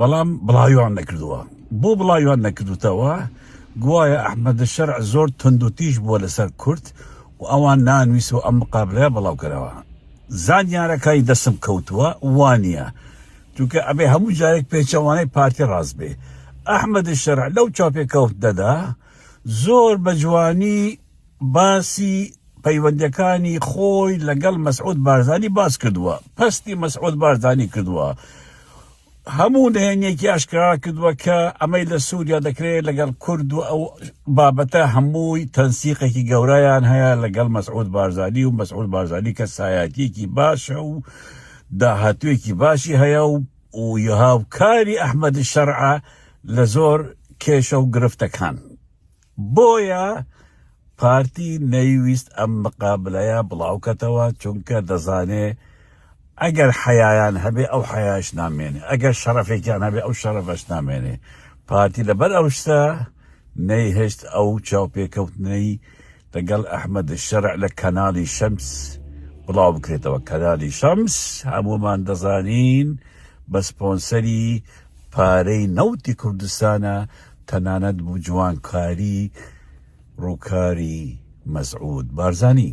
بەڵام بڵاویان نەکردووە بۆ بڵاویان نەکردوتەوە گوایە ئەحمەدە شەرع زۆر تندوتیژ بووە لەسەر کورد و ئەوان نانویست و ئەم مقابلە بڵاوکەرەوە زانیارەکانی دەسم کەوتووە وانە چونکە ئەبێ هەموو جارێک پێچەوانەی پارتی ڕاست بێ ئەحمەدی شەرع لەو چاپێکەوت دەدا زۆر بە جوانی باسی پەیوەندیەکانی خۆی لەگەڵ مەسعود بارزانی باس کردووە، پەستی مەسعود بارزانی کردووە، هەموو نهێنیەکی ئاشکرا کردووە کە ئەمەی لە سوریا دەکرێت لەگەڵ کورد و ئەو بابەتە هەمووی تەنسیقێکی گەورەیان هەیە لەگەڵ مەسعود بارزانی و مەسعود بارزانی کەسایەتیەکی باشە و داهاتوویەکی باشی هەیە و و هاوکاری ئەحمەد شەرعە لە زۆر کێشە و گرفتەکان. بۆیە پارتی نەیویست ئەم مقابلەیە بڵاوکەتەوە چونکە دەزانێ ئەگەر حەیایان هەبێ ئەو حەیاش نامێنێ ئەگەر شەڕەفێکیان هەبێ ئەو شەڕەفەش نامێنێ پارتی لەبەر ئەو شتە نەیهشت ئەو چاوپێکەوتنەی لەگەڵ ئەحمد شەرع لە کەناڵی شەمس بڵاو بکرێتەوە کەنالی شەمس هەموومان دەزانین بە سپۆنسەری پارەی نەوتی کوردستانە تەنانەت بوجوانکاری روکاری مەسعود بارزانی.